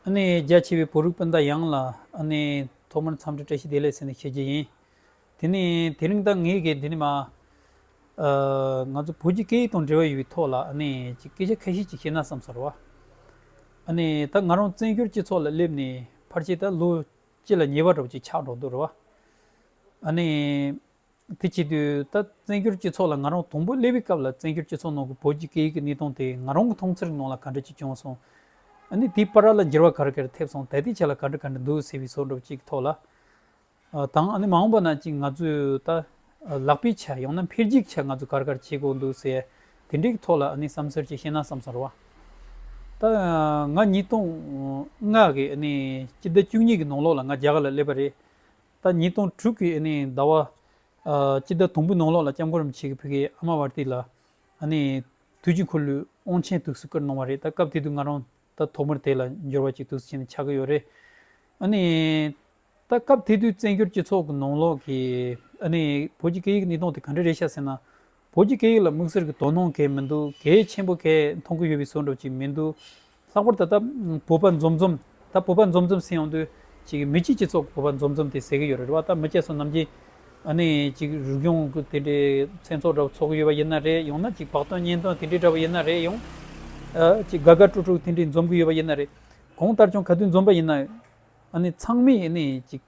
རྒྱ་ཆེ་བའི་བོད་རིགས་སྤུན་ཟླ་ཡངས་ལ་ཐོག་མར་འཚམས་འདྲི་བཀྲ་ཤིས་བདེ་ལེགས་ཟེར་ནས་ཞུ་རྒྱུ་ཡིན། དེ་ནི་དེ་རིང་ད་ངས་ཀྱི་འདི་ནི་མ་ང་ཚོ་བོད་ཀྱི་སྐད་ཡིག་དང་འབྲེལ་བ་ཡོད་པའི་ཐོག་ལ་སྐད་ཆ་ཁ་ཤས་ཅིག་བཤད་ན་བསམ་ཟེར་བ། ད་ང་རང་བཙན་བྱོལ་སྤྱི་ཚོགས་ལ་སླེབས་ནས་ཕར་ཆེར་ད་ལོ་གཅིག་ལ་ཉེ་བ་འགྲོ་བ་ཆགས་འགྲོ་འདུག་རེད་བ། དེ་བྱེད་དུས་ད་བཙན་བྱོལ་སྤྱི་ཚོགས་ལ་ང་རང་དང་པོ་སླེབས་པའི་སྐབས་ལ་བཙན་བྱོལ་སྤྱི་ཚོགས་ནང་གི་བོད་ཀྱི་སྐད་ཡིག་གི་གནས་སྟངས་དེ་ང་རང་གི་མཐོང་ཚེར་ནང་ལ་ག་འདྲ་ཅིག་བྱུང་སོང། ནི་དེའི་པར་ར་ལ་འགྱུར་བ་ག་རེ་ག་རེ་ཐེབས་སོང་ད་ལྟའི་ཆ་ལ་ག་འདྲ་ག་འདྲ་འདུག་ཟེར་བའི་ཟོག་འགྲོགས་ཅིག་གི་ཐོག་ལ་དང། ནི་མ་འོངས་པ་ན་ཅིག་ང་ཚོས་ད་ལག་པའི་ཆ་ཡང་ན་འཕེལ་རྒྱས་ཀྱི་ཆ་ང་ཚོས་ག་རེ་ག་རེ་བྱེད་དགོས་འདུག་ཟེར་དེ་འདྲའི་གི་ཐོག་ལ་ནི་བསམ་ཟོལ་ཅིག་བཤད་ན་བསམ་སོང་ར་བ། ད་ང་ཉིས་སྟོང་ལྔ་གི་ནི་སྤྱི་ཟླ་བཅུ་གཉིས་ཀྱི་ནང་ལོགས་ལ་ང་རྒྱ་གར་ལ་སླེབས་པ་རེད། ཟླ་ཉིས་སྟོང་དྲུག་གི་ཟླ་བ་གཅིག་ཟླ་དང་པོའི་ནང་ལོགས་ལ་སྐྱབས་མགོན་རིན་པོ་ཆེ་གིས་བོད་ཀྱི་ཨ་མ་བར་ཏི་ལ་དུས་ཀྱི་འཁོར་ལོའི་དབང་ཆེན་ཐུགས་སུ་བཀུར་གནང་བ་རེད་ད་སྐབས་དེ་དུས་ང་རང་ད་ཐོག་མར་དེ་ལ་འབྱོར་བ་ཅིག་ཐུགས་སུ་ཆེན་པོ་ཆགས་ཀྱི་ཡོད་རེད། ད་སྐབས་དེ་དུས་བཙན་བྱོལ་སྤྱི་ཚོགས་ཀྱི་ནང་ལོགས་ཀྱི་བོད་ཀྱི་སྐད་ཡིག་གནས་སྟངས་དེ་ག་འདྲ་རེད་བཤད་ཟེར་ན། བོད་ཀྱི་སྐད་ཡིག་ལ་དམིགས་བསལ་གྱི་དོ་སྣང་གལ་མི་འདུག་གལ་ཆེན་པོ་གལ་མཐོང་གི་ཡོད་པའི་ཟོལ་འགྲོ་གཅིག་མི་འདུག་ལྷག་པར་ད་ལྟ་བོད་པ་འཛོམས་འཛོམས་ད་བོད་པ་འཛོམས་འཛོམས་ཟེར་ཡོང་དུས་ཅིག་མི་སྤྱི་སྤྱི་ཚོགས་ཀྱི་བོད་པ་འཛོམས་འཛོམས་དེ་ཟེར་གྱི་ཡོད་རེད་རེད་བ་ད་མི་སྐྱ་སོ་ནམ་གྱི་ནས་ཅིག་རིག་གཞུང་གི་དེ་འདྲའི་མཚན་ཚོགས་འདྲ་བོ་ཚོགས་གྱི་ཡོད་པ་ཡིན་ན་རེད་ཡང་ན་ཅིག་བག་སྟོན་གཉེན་སྟོན་དེ་འདྲའི་འདྲ་བོ་ཡིན་ན་རེད་ཡང་ཅིག་དགའ་དགའ་སྤྲོ་སྤྲོ་དེ་འདྲའི་འཛོམས་གྱི་ཡོད་པ་ཡིན་ན་རེད་གང་ལྟར་བྱུང་ག་དུས་འཛོམས་པ་ཡིན་ན་ནས་ཚང་མས་ནས་ཅིག།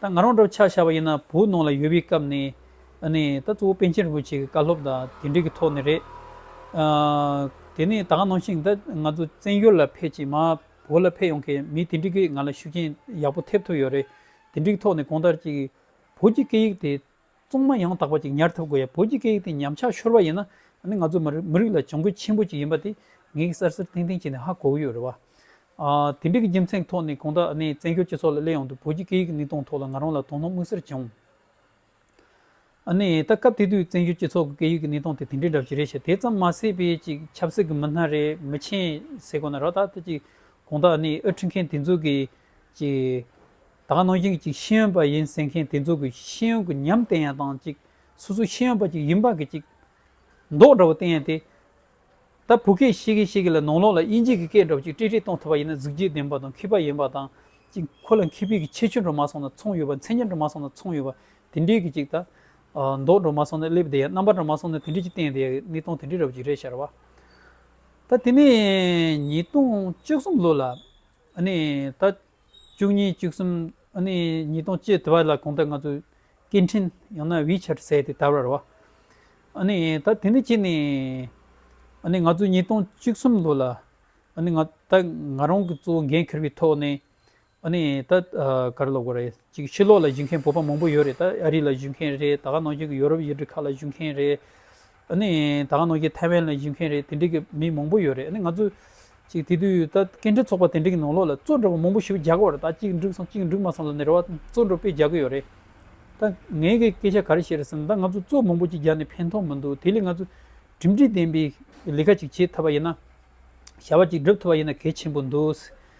ད་ང་རང་འདྲ་བ་ཆ་བཞག་པ་ཡིན་ན་བོད་ནང་ལ་ཡོད་པའི་སྐབས་ནས་ནི་ད་གཙོ་བོ་པན་ཆེན་རིན་པོ་ཆེ་གི་བཀའ་སློབ་དང་དེ་འབྲེལ་གྱི་ཐོག་ནས་རེད། དེ་ནས་ད་ག་ནང་བཞིན་ད་ང་ཚོ་བཙན་བྱོལ་ལ་ཕེབས་རྗེས་མ་བོད་ལ་ཕེབས་ཡོང་མཁན་མི་དེ་འབྲེལ་གྱིས་ང་ལ་ཤུགས་རྐྱེན་ཡག་པོ་ཐེབས་ཐུབ་ཡོད་རེད། དེ་འབྲེལ་གྱི་ཐོག་ནས་གོང་ལྟར་གྱི་བོད་ཀྱི་སྐད་ཡིག་དེ་ཙོང་མ་ཡང་དག་པ་ཅིག་ཉར་ཐུབ་དགོས་ཡ་བོད་ཀྱི་སྐད་ཡིག་དེ་ཉམས་ཆག་ཤོར་བ་ཡིན་ན་ནི་ང་ཚོ་མི་རིགས་ལ་གྱོང་གུད་ཆེན་པོ་ཅིག་ཡིན་པ་དེ་ངེད་ཀྱི་གསར་གསར་ཐེངས་ཐེངས་བྱས་ནས་ཧ་གོ་གི་ཡོད་རེད་བ། དེ་འདྲི་གི་རྒྱུ་མཚན་ཐོག་ནས་གང་དྲག་ནས་བཙན་བྱོལ་སྤྱི་ཚོགས་ལ་སླེབས་ཡོང་དུས་བོད་ཀྱི་སྐད་ཡིག་གི་གནས་སྟངས་ཐོག་ལ་ང་རང་ལ་དོ་སྣང་མངོན་གསལ་བྱུང། ད་སྐབས་དེ་དུས་བཙན་བྱོལ་སྤྱི་ཚོགས་ཀྱི་སྐད་ཡིག་གི་གནས་སྟངས་དེ་དེ་འདྲའི་འདྲ་ཞིག་རེད་ཞེས་དེ་ཙམ་མ་ཟེར་བས་ཅིག་ཆབ་སྲིད་ཀྱི་མི་སྣ་རེད་མི་ཆེན་ཟེར་དགོས་ན་རག་ད་ལྟ་ཅིག་གང་དྲག་ནས་ཨུ་འཁྲིད་མཁན་དེ་ཚོ་གིས་ཅིག་ད་ག་ནང་བཞིན་གཅིག་ཤེས་ཡོན་པ་ཡིན་ཟེར་མཁན་དེ་ཚོ་གི་ཤེས་ཡོན་གི་ཉམས་བསྟན་ཡང་དང་གཅིག་སོ་སོ་ཤེས་ཡོན་པ་གཅིག་ཡིན་པ་གི་གཅིག་མདོག་འདྲ་བོ་བསྟན་ཡང་དེ་ད་བོད་སྐད་ཤེས་མཁན་ཞིག་གི་ལ་ནང་ལོག་ལ་དབྱིན་ཇིག་གི་སྐད་འདྲ་བོ་གཅིག་དཀྲིས་དཀྲིས་གཏོང་ཐུབ་པ་ཡིན་ན་གཟིགས་རྒྱུ་ལྡན་པ་དང་མཁས་པ་ཡིན་པ་དང་གཅིག་ཁོ་ལ་མཁས་པའི་གི་ཁྱད་ཆོས་འགྲོ་མ་སོང་ན་མཚུངས་ཡོད་པ་མཚན་ཉིད་འགྲོ་མ་སོང་ན་མཚུངས་ཡོད་པ་དེ་འདྲའི་གི་གཅིག་ད་མདོག་འགྲོ་མ་སོང་ན་སླེབས་བསྡད་ཡང་རྣམ་པ་འདྲ་མ་སོང་ན་དེ་འདྲའི་གཅིག་བསྟན་བསྡད་ཡང་གནས་སྟངས་དེ་འདྲའི་འདྲ་བོ་གཅིག་རེད་ཤར་བ། ད་དེ་ནས་ཉིས་སྟོང་བཅུ་གསུམ་ལོ་ལ་ནས་ད། བཅུ་གཉིས་བཅུ་གསུམ་ནི་ཉིས་སྟོང་བཅུ་དྲུག་ལ་གོང་དུ་ང་ཚོས་སྐད་འཕྲིན་ཡང་ན་ཝི་ཆེད་ཟེར་ཏེ་དར་བར་བ། ད་དེ་ནས་ཕྱིན་ནས་ང་ཚོས་ཉིས་སྟོང་བཅུ་གསུམ་ལོ་ལ་ད་ང་རང་གི་གཙོ་བོ་འགན་འཁུར་བའི་ཐོག་ནས་ད་གར་ལོག་གི་རེད་ཅིག་ཕྱི་ལོག་ལ་བཞུགས་མཁན་བོད་པ་མང་པོ་ཡོད་རེད་ད་ཨ་རི་ལ་བཞུགས་མཁན་རེད་ད་ག་ནང་བཞུགས་ཀྱི་ཡོ་རོབ་ཡུལ་གྲུ་ཁག་ལ་བཞུགས་མཁན་རེད། ཨ་ནི་ད་ག་ནོར་གྱི་ཐའེ་ཝན་ལ་བཞུགས་མཁན་རེད་དེ་འདྲི་གི་མི་མང་པོ་ཡོད་རེད་ཨ་ནི་ང་ཚོ། ཅིག་དེ་དུས་ད་སྐད་འཕྲིན་ཚོགས་པ་དེ་འདྲི་གི་ནང་ལོགས་ལ་གཙོས་འདྲ་པོ་མང་པོ་ཞིབ་རྒྱག་གི་བར་ད་གཅིག་འགྲིག་སོང་གཅིག་འགྲིག་མ་སོང་ལ་ནི་རེ་བ་གཙོས་འདྲ་པོ་སྤེལ་རྒྱག་གི་ཡོད་རེད། ད་ངའི་གི་སྐད་ཆ་ག་རེ་བཤད་རེད་ཟེར་ན་ད་ང་ཚོ་གཙོས་མང་པོ་ཅིག་རྒྱག་ནི་ཕན་ཐོག་མི་འདུག་དེ་ལས་ང་ཚོ་གྲིམ་འགྲིག་ལྡན་པའི་ལས་ཀ་ཅིག་བྱེད་ཐུབ་པ་ཡིན་ན། བྱ་བ་ཅིག་སྒྲུབ་ཐུབ་པ་ཡིན་ན་གལ་ཆེན་པོ་འདུག།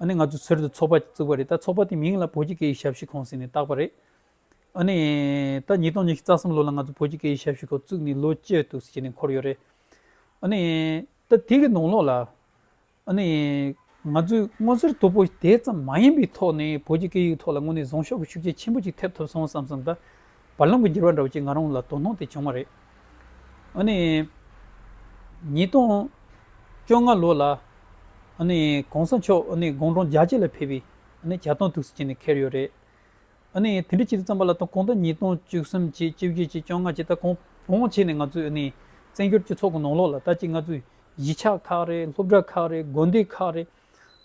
ཨ་ནི་ང་ཚོས་ཚུལ་དུ་ཚོགས་པ་བཙུགས་པ་རེད་ད་ཚོགས་པ་དེའི་མིང་ལ་བོད་ཀྱི་སྐད་ཡིག་ཞབས་ཞུའི་ཁང་ཟེར་ནས་བཏགས་པ་རེད། ཨ་ནི། ད་ཉིས་སྟོང་ཉི་ཤུ་རྩ་གསུམ་ལོ་ལ་ང་ཚོ་བོད་ཀྱི་སྐད་ཡིག་ཞབས་ཞུའི་ཁང་བཙུགས་ནས་ལོ་བཅུ་ཐུག་ཟེར་ནས་འཁོར་ཡོད་རེད། ཨ་ནི། ད་དེ་གི་ནང་ལོགས་ལ། ཨ་ནི། ང་ཚོས་སྔོ་ཟེར་དོད་པོ་དེ་ཙམ་མ་ཡིན་པའི་ཐོག་ནས་བོད་ཀྱི་སྐད་ཡིག་གི་ཐོག་ལ་དངོས་ནས་བཟང་ཤོག་གི་ཤུགས་རྐྱེན་ཆེན་པོ་ཅིག་ཐེབས་ཐུབ་སོང་བསམ་བསམ་ད་བར་ལམ་གྱི་འགྱུར་བ་འདྲ་བོ་ཅིག་ང་རང་ལ་དོ་སྣང་དེ་བྱུང་བ་རེད། ཨ་ནི། ཉིས་སྟོང་བཅོ་ལྔ་ལོ་ལ། ཨ་ནི། གོང་ས་མཆོག་ཨ་ནི་དགོང་དྲོང་རྒྱ་ཆེ་ལ་ཕེབས་པའི་ཨ་ནི་བྱ་བཏང་ཐུགས་སུ་བྱིན་ནས་འཁེལ་ཡོད་རེད། ཨ་ནི་དེ་འདྲའི་ཕྱི་དྲོ་རྩམ་པ་ལ་ཐོན་གོང་ད་ཉིས་སྟོང་བཅུ་གསུམ་བཅས་བཅུ་བཞི་བཅས་བཅོ་ལྔ་བཅས་ད་གོང་བོང་ཆེ་ནས་ང་ཚོའི་ཨ་ནི་བཙན་བྱོལ་སྤྱི་ཚོགས་ཀྱི་ནང་ལོགས་ལ་ད་ཅིག་ང་ཚོའི་གཞིས་ཆགས་ཁག་རེད་སློབ་གྲྭ་ཁག་རེད་དགོན་སྡེ་ཁག་རེད།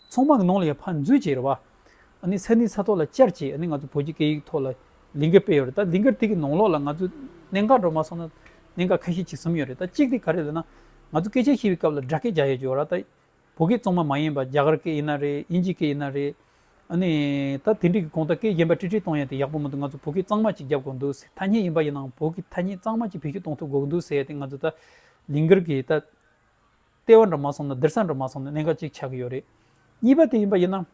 ཚོང་དམག་ནང་ལ་ཡང་ཕར་འཛུལ་བྱས་རེད་བ། ཨ་ནི་ས་གནས་ས་ཐོག་ལ་བཅར་བྱས་ཨ་ནི་ང་ཚོ་བོད་ཀྱི་སྐད་ཡིག་ཐོག་ལ་ལིང་ག་སྤེལ་ཡོད་རེད་ད་ལིང་ག་དེ་གི་ནང་ལོགས་ལ་ང་ཚོས་གནད་འགག་འགྲོ་མ་སོང་ན་གནད་འགག་ཁ་ཤས་ཅིག་གསུམ་ཡོད་རེད་ད་གཅིག་དེ་ག་རེད་ལ་ན། ང་ཚོ་སྐད་ཆ་བཤད་པའི་སྐབས་ལ་སྦྲ་སྐད་རྒྱག་ཡ་རྒྱུ་ར་ད་བོད་སྐད་ཙོང་མ་མ་ཡིན་པ་རྒྱ་གར་སྐད་ཡིན་ན་རེད་དབྱིན་ཇི་སྐད་ཡིན་ན་རེད། ཨ་ནི་ད་དེ་འདྲིག་གི་གོང་ད་སྐད་གཞན་པ་ཀྲི་ཀྲི་གཏོང་ཡ་དེ་ཡག་པོ་མི་འདུག་ང་ཚོ་བོད་སྐད་གཙང་མ་ཅིག་རྒྱབ་དགོས་འདུག་ཟེར་ཐ་སྙད་ཡིན་པ་ཡིན་ནའང་བོད་ཀྱི་ཐ་སྙད་གཙང་མ་ཅིག་བེད་སྤྱོད་གཏོང་ཐུབ་དགོས་ཀྱི་འདུག་ཟེར་ཡ་དེ་ང་ཚོ་ད་ལིང་གར་གི་ད། ལྟེ་བ་འདྲ་མ་སོང་ན་སྡེར་ས་འདྲ་མ་སོང་ན་གནད་འགག་ཅིག་ཆགས་ཀྱི་ཡོད་རེད། གཉིས་པ་དེ་ཡིན་པ་ཡིན་ན།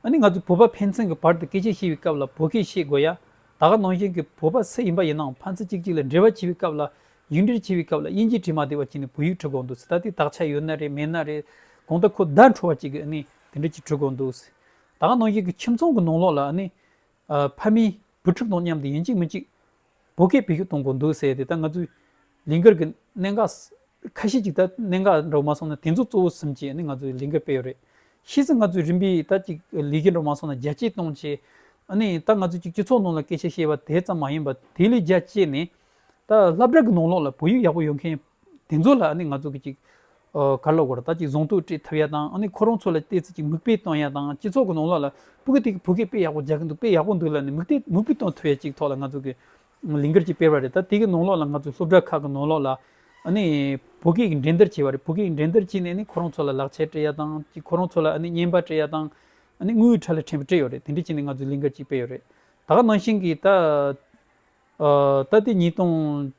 ཨ་ནི་ང་ཚོས་བོད་པ་ཕན་ཚུན་གྱི་བར་དུ་སྐད་ཆ་བཤད་པའི་སྐབས་ལ་བོད་སྐད་བཤད་དགོས་ཡ། ད་ག་ནང་བཞིན་གྱི་བོད་པ་སུ་ཡིན་པ་ཡིན་ནའང་ཕན་ཚུན་གཅིག་གཅིག་ལ་འབྲེལ་བ་བྱེད་པའི་སྐབས་ལ། ཡིག་འབྲེལ་བྱེད་པའི་སྐབས་ལ་དབྱིན་ཇིའི་བྲིས་མ་བདེ་བ་བྱས་ནས་བོད་ཡིག་བྲི་དགོས་འདུག་ད་དེ་དག་ཆ་ཡོད་ན་རེད་མེད་ན་རེད། གང་ལྟར་ཁོ་བརྡ་འཕྲོ་བ་ཅིག་གིས་ཨ་ནི་དེ་འདྲ་ཅིག་བྲི་དགོས་འདུག། ད་ག་ནང་བཞིན་གྱི་ཁྱིམ་ཚང་གི་ནང་ལོགས་ལ་ཨ་ནི། ཕ་མིས་བུ་ཕྲུག་དང་མཉམ་དུ་ཡིན་གཅིག་མིན་གཅིག། བོད་སྐད་བེད་སྤྱོད་གཏོང་དགོས་འདུག་ཟེར་ཏེ་ད་ང་ཚོའི་ལིང་གར་གྱི་གནད་འགག་ཁ་ཤས་ཅིག་ད་གནད་འགག་འགྲོ་མ་སོང་ན་དེ་ཚོ་གཙོ་བོ་ཟིན་གྱིས་ནི་ང་ཚོའི་ལིང་གར་སྤེལ་ཡོད་རེད། ཤེས་ཚེ་ང་ཚོའི་རིམ་པས་ད་ཅིག་ལིས་ཀྱི་འགྲོ་མ་སོང་ན་རྒྱལ་གཅེས་སྟོང་གཅེས། ནི་ད་ང་ཚོས་ཅིག་སྤྱི་ཚོགས་ནང་ལ་སྐད་ཆ་བཤད་པ་དེ་ཙམ་མ་ཡིན་པ་དེ་ལས་རྒྱལ་གཅེས་ནི། ད་ལྷ་བྲག་གི་ནང་ལོགས་ལ་བོད་ཡིག་ཡག་པོ་ཡོད་མཁན། དེ་ཚོ་ལ་ང་ཚོ་གཅིག་ག་ལ་དགོས་ར་ད་ཅིག་རྫོང་དུ་སྤྲད་ཐུབ་ཡ་དང་ཁོ་རང་ཚོ་ལ་བལྟས་ཚེ་ཅིག་མིག་དཔེ་གཏོང་ཡ་དང་སྤྱི་ཚོགས་ཀྱི་ནང་ལོགས་ལ་པུ་གུ་དེ་གི་བུ་གས་དཔེ་ཡག་པོ་རྒྱག་གི་འདུག་དཔེ་ཡག་པོ་འདུག་ལ་ནི་མིག་དཔེ་མིག་དཔེ་གཏོང་ཐུབ་ཡ་ཅིག་ཐོག་ལ་ང་ཚོ་གི་ལིང་གར་ཅིག་སྤེལ་བ་རེད་ད་དེ་གི་ནང་ལོགས་ལ་ང་ཚོ་སློབ་གྲྭ་ཁག་གི་ནང་ལོགས་ལ་བུ་གས་འགྲན་བསྡུར་བྱས་པ་རེད་བུ་གས་འགྲན་བསྡུར་བྱས་ནས་ཁོ་རང་ཚོ་ལ་ལག་ཆས་སྤྲད་ཡ་དང་ཅིག་ཁོ་རང་ཚོ་ལ་བརྙན་པར་སྤྲད་ཡ་དང་དངུལ་ཁྲ་ལ་ཕྲན་བུ་སྤྲད་ཡོད་རེད་དེ་འདྲས་བྱས་ནས་ང་ཚོ་ལིང་གར་ཅིག་སྤེལ་ཡོད་རེད་ད་ག་ནང་བཞིན་གྱི་ད་ད་དེ་ཉིས་སྟོང་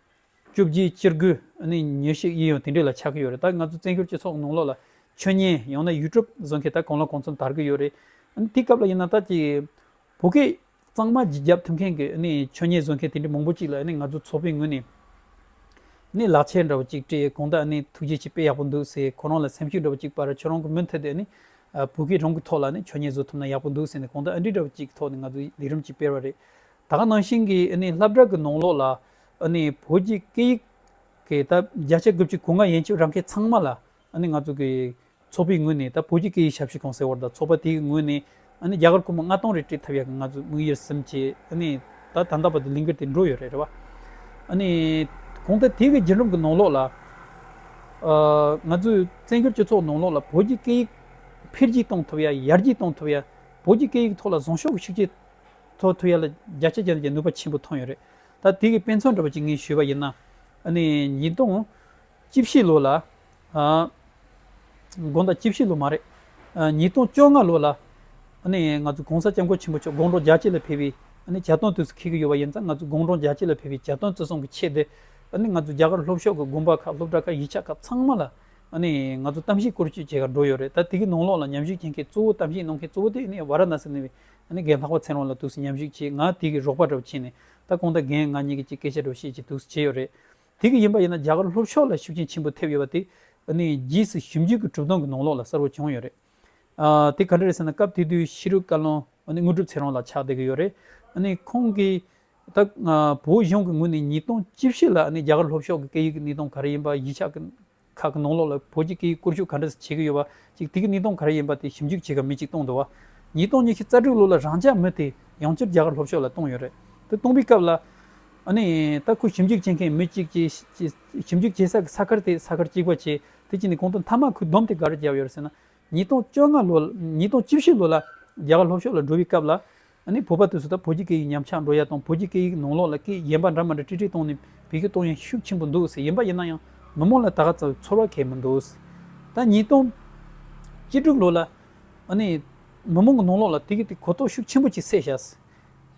བཅུ་བཞིའི་སྤྱིར་སྒོས་ནི་ཉོས་ཤིག་ཡིད་ཡོང་དེ་འདྲས་ལ་ཆགས་ཀྱི་ཡོད་རེད་ད་ང་ཚོ་བཙན་བྱོལ་སྤྱི་ཚོགས་ནང་ལོག་ལ་ཆོས་ཉན་ཡང་ན་ཡུལ་གྲུབ་བཟོ་མཁན་ད་གང་ལ་གང་ཚོད་དར་གྱི་ཡོད་རེད་ཨ་དེའི་སྐབས་ལ་ཡིན་ན་ད་ཀྱི་བོད་སྐད་གཙང་མ་བརྗིད་རྒྱབ་ཐུབ་མཁན་གྱི་ཆོས་ཉན་བཟོ་མཁན་དེ་འདྲས་མང་པོ་ཅིག་ལ་ང་ཚོ་ཚོགས་པའི་ངོས་ནས་ནས་ལག་འཁྱེར་འདྲ་བོ་ཅིག་སྤྲད་གང་ད་ཐུགས་རྗེ་ཆེ་དཔེ་ཡག་པོ་འདུག་ཟེར་ཁོ་རང་ལ་སེམས་ཤུགས་འདྲ་བོ་ཅིག་པར་ཁྱོད་རང་གི་མུ་མཐུད་དེ་བོད་སྐད་རང་གི་ཐོག་ལ་ཆོས་ཉན་བཟོ་ཐུབ་ན་ཡག་པོ་འདུག་ཟེར་ནས་གང་ད་ཨ་འགྲིག་འདྲ་བོ་ཅིག་གི་ཐོག་ནས་ང་ཚོ་ལས་རིམ་ཅིག་སྤེལ་བ་རེད་ད་ག་ནང་བཞིན་གྱི་ལྷ་བྲག་གི་ནང་ལོག་ལ། ཨ་ནི་བོད་ཀྱི་སྐད་ཡིག་གི་ད་བརྒྱ་ཆ་དགུ་བཅུ་གོ་ལྔ་ཡན་ཆོད་རང་སྐད་ཚང་མ་ལ་ཨ་ནི་ང་ཚོ་གི་ཚོགས་པའི་ངོས་ནས་ད་བོད་ཀྱི་སྐད་ཡིག་ཞབས་ཞུ་གང་ཟེར་བར་ད་ཚོགས་པ་དེའི་ངོས་ནས་ཨ་ནི་རྒྱ་གར་ཁོ་མོ་ལྔ་སྟོང་རེ་སྤྲད་ཐབས་ཡག་གི་ང་ཚོ་དམིགས་ཡུལ་སེམས་བསྐྱེད་ཨ་ནི་ད་ད་ལྟ་བར་དུ་ལིང་ག་དེ་འགྲོ་ཡོད་རེད་རེད་བ། ཨ་ནི་གོང་ད་དེ་གི་རྒྱུད་རིམ་གི་ནང་ལོགས་ལ་ཨ་ང་ཚོའི་བཙན་བྱོལ་སྤྱི་ཚོགས་ནང་ལོགས་ལ་བོད་ཀྱི་སྐད་ཡིག་འཕེལ་རྒྱས་གཏོང་ཐུབ་ཡ་ཡར་རྒྱས་གཏོང་ཐུབ་ཡ་བོད་ཀྱི་སྐད་ཡིག་ཐོག་ལ་བཟང་ཤོས་ཀྱི་ཤུགས་རྐྱེན་ཐོག་ཐུབ་ཡ་ལ་རྒྱ་ཆ་རྒྱ་ནག་གི་ནུས་པ་ཆེན་པོ་ཐོན་ཡོད་རེད། ད་ལྟའི་དཔེ་མཚོན་འགྲོ་བ་ཅིག་ངས་ཞུས་པ་ཡིན་ན། ཉིས་སྟོང་བཅུ་བཞི་ལོ་ལ། དགོངས་དག་བཅུ་བཞི་ལོ་མ་རེད། ཉིས་སྟོང་བཅོ་ལྔ་ལོ་ལ། ང་ཚོ་གོང་ས་སྐྱབས་མགོན་ཆེན་པོ་མཆོག་དགུང་གྲངས་བརྒྱ་གཅིག་ལ་ཕེབས་པའི་བྱ་དོན་དུས་སུ་འཁེལ་གྱི་ཡོད་པ་ཡིན་ཙང་ང་ཚོ་དགུང་གྲངས་བརྒྱ་གཅིག་ལ་ཕེབས་པའི་བྱ་དོན་བརྩི་སྲུང་གི་ཆེད་དེ། ང་ཚོ་རྒྱ་གར་སློབ་ཤོག་གི་དགོན་པ་ཁག་སློབ་གྲྭ་ཁག་ཡིག་ཆ་ཁག་ཚང་མ་ལ། ང་ཚོ་གཏམ་བཤད་བསྐོར་བསྐྱོད་བྱེད་ཁར་འགྲོ་ཡོད་རེད་ད་དེ་གི་ནང་ལོགས་ལ་ཉམས་ཞིབ་བྱེད་མཁན་གཙོ་བོ་གཏམ་བཤད་གནང་མཁན་གཙོ་བོ་དེ་ཝར་ན་སི་ནི་ཨ་ནི་རྒན་ལྷག་པ་མཚན་རོང་ལ་དུག་སེལ་ཉམས་ཞིག་བྱེད་ང་དེ་གི་རོགས་པ་འདྲ་བོ་བྱས་ནས་ད་ཁོང་དང་རྒན་ང་གཉིས་ཀྱི་གཅིག་སྐད་ཆ་འགྲོ་ཤེས་ཀྱི་དུག་སེལ་བྱས་ཡོད་རེད་དེ་གི་ཡིན་པ་ཡིན་ན་རྒྱ་གར་ལྷོ་ཕྱོགས་ལ་ཤུགས་རྐྱེན་ཆེན་པོ་ཐེབས་ཡོད་པ་དེ་ཨ་ནི་རྗེས་སུ་ཞིབ་འཇུག་གི་གྲུབ་སྟངས་ཀྱི་ནང་ལོགས་ལ་གསར་བོ་བྱུང་ཡོད་རེད་ཨ་དེ་ག་འདྲ་རེད་ཟེར་ན་སྐབས་དེ་དུས་ཤི་རུ་བཀའ་བློན་ཨ་ནི་དངོས་གྲུབ་མཚན་རོང་ལ་ཕྱག་འདེབས་ཀྱི་ཡོད་རེད་ཨ་ནི་ཁོང་གི་ད་བོད་གཞུང་གི་ངོས་ནས་ཉིས་སྟོང་བཅུ་བཞི་ལ་ཨ་ནི་རྒྱ་གར་ལྷོ་ཕྱོགས་ཀྱི་སྐད་ཡིག་གི་གནས་སྟངས་ག་རེ་ཡིན་པ་གཞིས་ཆགས་ཀྱི་ཁག་གི་ནང་ལོགས་ལ་བོད་ཀྱི་སྐད་ཡིག་བསྐོར་ཞུགས་ག་འདྲ་བྱེད་ཀྱི་ཡོད་པ། གཅིག་དེ་གི་གནས་སྟངས་ག་རེ་ཡིན་པ་དེ་ཞིབ་འཇུག་བྱེད་སྐབས་མི་གཅིག་སྟོང་དུ་བ། ཉིས་སྟོང་ཉི་ཤུ་རྩ་དྲུག་ལོ་ལ་རང་ཅག་མི་དེ་ཡང་བསྐྱར་རྒྱ་གར་ལྷོ་ཕྱོགས་ལ་གཏོང་ཡོད་རེད། དེ་གཏོང་པའི་སྐབས་ལ། ནི། ད་ཁོས་ཞིབ་འཇུག་བྱེད་མཁན་མི་གཅིག་བྱེད། ཞིབ་འཇུག་བྱེད་ས་གི་ས་ཁར་དེ་ས་ཁར་གཅིག་པ་བྱས། དེ་བྱས་ནས་གོང་དུ་མཐའ་མ་ཁོས་བསྡོམས་དེ་ག་རེ་བརྒྱབ་ཡོད་རེད་ཟེར་ན། ཉིས་སྟོང་བཅོ་ལྔ་ལོ། ཉིས་སྟོང་བཅུ་བཞི་ལོ་ལ་རྒྱ་གར་ལྷོ་ཕྱོགས་ལ་འགྲོ་བའི་སྐབས་ལ། ཨ་ནི་བོད་པ་དུས་སུ་ད་བོད་ཀྱི་སྐད་ཡིག་ཉམས་ཆག་འགྲོ་ཡ་དང་བོད་ཀྱི་སྐད་ཡིག་ནང་ལོག་ལ་སྐད་ཡིག་གཞན་པ་འདྲ་མ་འདྲ་དཀྲི་དཀྲི་གཏོང་ནས་བེད་སྐྱོད་གཏོང་ཡ་ཤུགས་ཆེན་པོ་འདུག་ཟེར་ཡིན་པ་ཡིན་ན་ཡང་མི་མང་ལ་ད་ག་ཚོད་ཚོར་བ་གལ་མི་འདུག་ད་ཉིས་སྟོང་གཅིག་དྲུག་ལོ་ལ་ཨ་ནི་མི་མང་གི་ནང་ལོག་ལ་དེ་གི་དེ་གོ་རྟོགས་ཤུགས་ཆེན་པོ་གཅིག་སད་བྱ་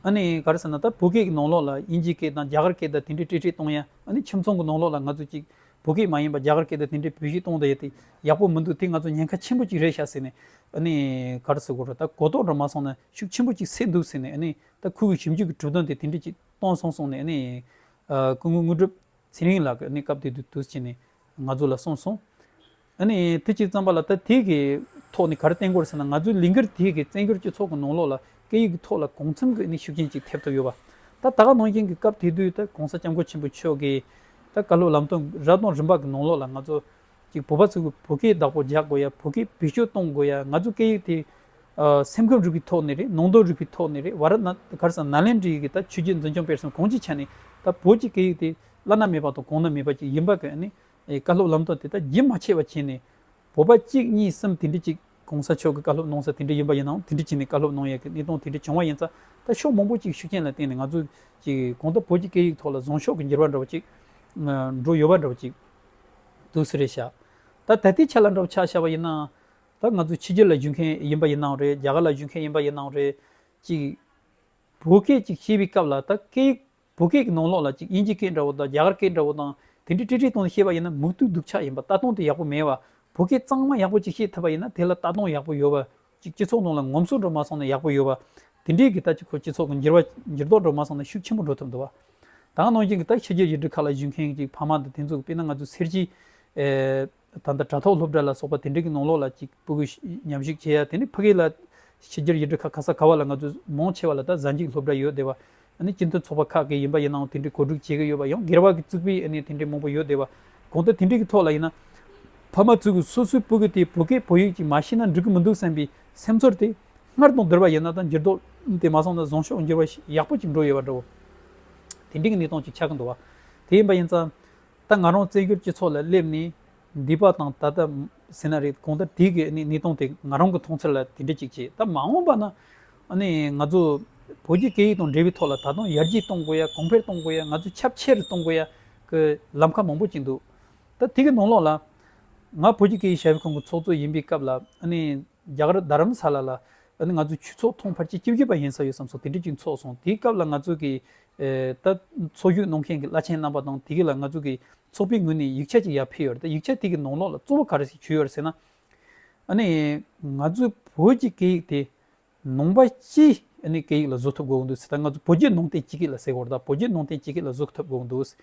ཨ་ནི་ག་རེ་ཟེར་ན་ད་བོད་སྐད་ཀྱི་ནང་ལོག་ལ་དབྱིན་ཇིའི་སྐད་དང་རྒྱ་གར་སྐད་ད་དེ་འདྲའི་དཀྲི་དཀྲི་གཏོང་ཡ་ཨ་ནི་ཁྱིམ་ཚང་གི་ནང་ལོག་ལ་ང་ཚོ་གཅིག་བོད་སྐད་མ་ཡིན་པ་རྒྱ་གར་སྐད་ད་དེ་འདྲའི་བོད་གཞིས་གཏོང་ད་ཡ་དེ་ཡག་པོ་མི་འདུག་དེ་ང་ཚོ་ཉེན་ཁ་ཆེན་པོ་གཅིག་རེད་བྱ་ཟེར་ནས་ཨ་ནི་ག་རེ་ཟེར་དགོས་ར་ད་གོ་རྟོགས་འདྲ་མ་སོང་ན་ཤུགས་ཆེན་པོ་གཅིག་སེལ་འདུག་ཟེར་ནས་ད་ཁོ་བོས་ཞིབ་འཇུག་གི་གྲུབ་དོན་དེ་དེ་འདྲས་ཅིག་གཏོང་སོང་གསུངས་ནས་སྐུ་ངོ་དངོས་གྲུབ་ཚེ་རིང་ལགས་ཀྱིས་སྐབས་དེ་དུས་དུས་ཆེ་ནས་ང་ཚོ་ལ་གསུངས་སོང། དེ་ཅིག་བརྩམས་པ་ལ་ད་དེ་གི་ཐོག་ནས་གར་བསྟན་སྐོར་ཟེར་ན་ང་ཚོའི་ལིང་གར་དེ་གི་བཙན་བྱོལ་སྤྱི་ཚོགས་ཀྱི་ནང་ལོགས་ལ་སྐད་ཡིག་གི་ཐོག་ལ་གོང་འཚམས་ཀྱི་ཤུགས་རྐྱེན་ཅིག་ཐེབས་ཐུབ་ཡོད་པ། ད་ད་ག་ནང་བཞིན་གྱི་སྐབས་དེ་དུས་ད་གོང་ས་སྐྱབས་མགོན་ཆེན་པོ་མཆོག་གིས་ད་ག་ལོ་ལམ་སྟོན་རབ་དང་རིམ་པ་གི་ནང་ལོགས་ལ་ང་ཚོ་ཅིག་བོད་པ་ཚོས་བོད་སྐད་བདག་པོ་རྒྱག་དགོས་ཡ་བོད་སྐད་བེད་སྤྱོད་གཏོང་དགོས་ཡ་ང་ཚོ་སྐད་ཡིག་དེ། སེམས་ཁམས་རིག་པའི་ཐོག་ནས་རེད་ནང་དོན་རིག་པའི་ཐོག་ནས་རེད་བར་ན་གར་སང་ནཱ་ལེནྡྲ་ཡི་གེ་ད་ཆོས་རྒྱལ་འཛིན་སྐྱོང་སྤེལ་སོང་གང་ཅིའི་ཆ་ནས་ད་བོད་ཀྱི་སྐད་ཡིག་དེ་བླ་ན་མེད་པ་དང་གོང་ན་མེད་པ་ཅིག་ཡིན་པ་གི་ནི་བཀའ་སློབ་ལམ་སྟོན་དེ་ད་རྒྱུན་མ་ཆད་པ་བྱས་ནས། བོད་པ་གཅིག་གཉིས་གསུམ་དེ་འདྲི་ཅིག་གོང་ས་མཆོག་གི་བཀའ་སློབ་གནང་ས་དེ་འདྲི་ཡིན་པ་ཡིན་ནའང་དེ་འདྲི་བྱས་ནས་བཀའ་སློབ་གནང་ཡ་གི་གནས་སྟངས་དེ་འདྲི་བྱུང་བ་ཡིན་ཙང་ད་ཕྱོགས་མང་པོ་ཅིག་ཤུགས་རྐྱེན་ལ་བརྟེན་ནས་ང་ཚོ་ཅིག་གང་ད་བོད་ཀྱི་སྐད་ཡིག་ཐོག་ལ་བཟང་ཕྱོགས་ཀྱི་འགྱུར་བ་འགྲོ་བ་ཅིག་འགྲོ་ཡོད་པ་འདྲ་བ་ཅིག། དུ་སི་རེ་བྱ། ད་ད་ལྟའི་ཆ་ལ་འདྲ་བོ་ཆགས་ཤར་བ་ཡིན་ན། ད་ང་ཚོ་ཕྱི་རྒྱལ་ལ་བཞུད་མཁན་ཡིན་པ་ཡིན་ནའང་རེད་རྒྱ་གར་ལ་བཞུད་མཁན་ཡིན་པ་ཡིན་ནའང་རེད། ཅིག། བོད་སྐད་ཅིག་ཤེས་པའི་སྐབས་ལ་ད་སྐད་ཡིག་བོད་སྐད་ཀྱི་ནང་ལོགས་ལ་ཅིག་དབྱིན་ཇི་སྐད་འདྲ་བོ་དང་རྒྱ་གར་སྐད་འདྲ་བོ་དང་དེ་འདྲས་དཀྲི་དཀྲི་གཏོང་ནས་བཤད་པ་ཡིན་ན་མུག་སྟུག་སྡུག་ཆགས་ཡིན་པ་ལྟ་སྟངས་དེ་ཡག་པོ་མེད་བ། བོད་སྐད་གཙང་མ་ཡག་པོ་ཅིག་ཤེས་ཐུབ་པ་ཡིན་ན་དེ་ལ་ལྟ་སྟངས་ཡག་པོ་ཡོད་པ་གཅིག་སྤྱི་ཚོགས་ནང་ལ་ངོམ་སོ་འགྲོ་མ་སོང་ན་ཡག་པོ་ཡོད་པ། དེ་འདྲའི་གི་ད་ཅི་ཁོ་སྤྱི་ཚོགས་གི་འགྱུར་བ་འགྱུར་ལྡོག་འགྲོ་མ་སོང་ན་ཤུགས་ཆེན་པོ་འགྲོ་ཐུབ་འདུག་བ། དང་ནང་བཞིན་གི་ད་ཕྱི་རྒྱལ་ཡུལ་གྲུ་ཁག་ལ་བཞུགས་མཁན་གྱི་ཕ་མ་དང་དེ་ཚོ་གི་དཔེར་ན་ང་ཚོ་སེར་སྐྱི། ད་ལྟ་དྲ་ཐོག་སློབ་གྲྭ་ལ་སོགས་པ་དེ་འདྲའི་གི་ནང་ལོགས་ལ་གཅིག་སྤུ་གུ་ཉམས་ཞིག་བྱེད་ཡ་དེ་ནི་ཕི་གེ་ལ། ཕྱི་རྒྱལ་ཡུལ་གྲུ་ཁག་ག་ས་ག་བ་ལ་ང་ཚོ་མང་ཆེ་བ་ལ་ད་གཟའ་འཇིགས་སློབ་གྲྭ་ཡོད་དེ་བ། ནི་སྤྱི་མཐུན་ཚོགས་པ་ཁག་གི་ཡིན་པ་ཡིན་ནའང་དེ་འདྲའི་གོ་སྒྲིག་བྱེད་ཀྱི་ཡོད་པ་ཡང་སྒེར་བ་གི་བཙུགས་པའི་དེ་འདྲའི་མང་པོ་ཡོད་བསྡད་པ། གང་ལྟར་དེ་འདྲའི་གི་ཐོག་ལ་ཡིན་ན། ཕ་མ་བཙུགས་གི་སོ་སོའི་བུ་གི་དེ་བོད་སྐད་བོད་ཡིག་ཅིག་མ་ཤེས་ན་འགྲིག་གི་མི་འདུག་བསམ་པའི་སེམས་ཚོར་དེ། སྔར་དང་བསྡུར་བ་ཡིན་ན་དང་འགྱུར་ལྡོག་དེ་མ་སོང་ན་བཟང་ཕྱོགས་འགྱུར་བ་ཞིག་ཡག་པོ་ཅིག་འགྲོ་ཡོད་པ་འདྲ་བོ། དེ་འདྲའི་གི་གནས་སྟངས་ཅིག་ཆགས་ཀྱི་འདུག་བ། དེ་ཡིན་པ་ཡིན་ཙང། ད་ང་རང་བཙན་བྱོལ་སྤྱི་ཚོགས་ལ་སླེབས་ནས། འདི་པ་དང་ད་ལྟ་ཟེར་ན་རེད་གོང་ད་དེ་གི་གནས་སྟངས་དེ་ང་རང་གི་མཐོང་ཚད་ལ་དེ་འདྲ་ཅིག་བྱས་ད་མ་འོངས་པ་ན་ང་ཚོ་བོད་ཀྱི་སྐད་ཡིག་དང་འབྲེལ་བའི་ཐོག་ལ་ད་དུང་ཡར་རྒྱས་གཏོང་དགོས་ཡ་གོང་འཕེལ་གཏོང་དགོས་ཡ་ང་ཚོ་ཁྱབ་ཆེ་རུ་གཏོང་དགོས་ཡ་གི་ལམ་ཁ་མང་པོ་བྱས་འདུག་ད་དེ་གི་ནང་ལོགས་ལ་ང་བོད་ཀྱི་སྐད་ཡིག་ཞབས་ཞུ་ཁང་གི་ཚོགས་གཙོ་ཡིན་པའི་སྐབས་ལ་རྒྱ་གར་རྡ་རམ་ས་ལ་ལ་ནི་ང་ཚོའི་ཁྱུ་ཚོགས་མཐོང་ཕར་ཆེ་སྐྱིད་སྐྱིད་པ་ཡིན་ས་ཡོད་བསམ་སོང་དེ་འདྲའི་ཅིག་འཚོགས་སོང་དེའི་སྐབས་ལ་ང་ཚོ་གི་ད་འཚོགས་རྒྱུ་གནང་མཁན་གི་བླ་ཆེན་རྣམ་པ་དང་དེ་གི་ལ་ང་ཚོ་གི་ཚོགས་པའི་ངོས་ནས་ཡིག་ཆ་ཅིག་ཡར་ཕེབས་ཡོད་རེད་ད་ཡིག་ཆ་དེ་གི་ནང་ལོགས་ལ་གཙོ་བོ་ག་རེ་ཞིག་བྱུས་ཡོད་རེད་ཟེར་ན། ཨ་ནི་ང་ཚོའི་བོད་ཀྱི་སྐད་ཡིག་དེ་ནང་པ་སྤྱི་ཨ་ནི་སྐད་ཡིག་ལ་བཟོ་ཐུབ་དགོས་གི་འདུག་ཟེར་ད་ང་ཚོ་བོད་བརྒྱུད་ནང་བསྟན་སྤྱི་སྐད་ལ་ཟེར་གོ་རེ་ད་བོད་བརྒྱུད་ནང་བསྟན་སྤྱི་སྐད་ལ་བཟོ་ཐུབ་དགོས་གི་འདུག་ཟེར་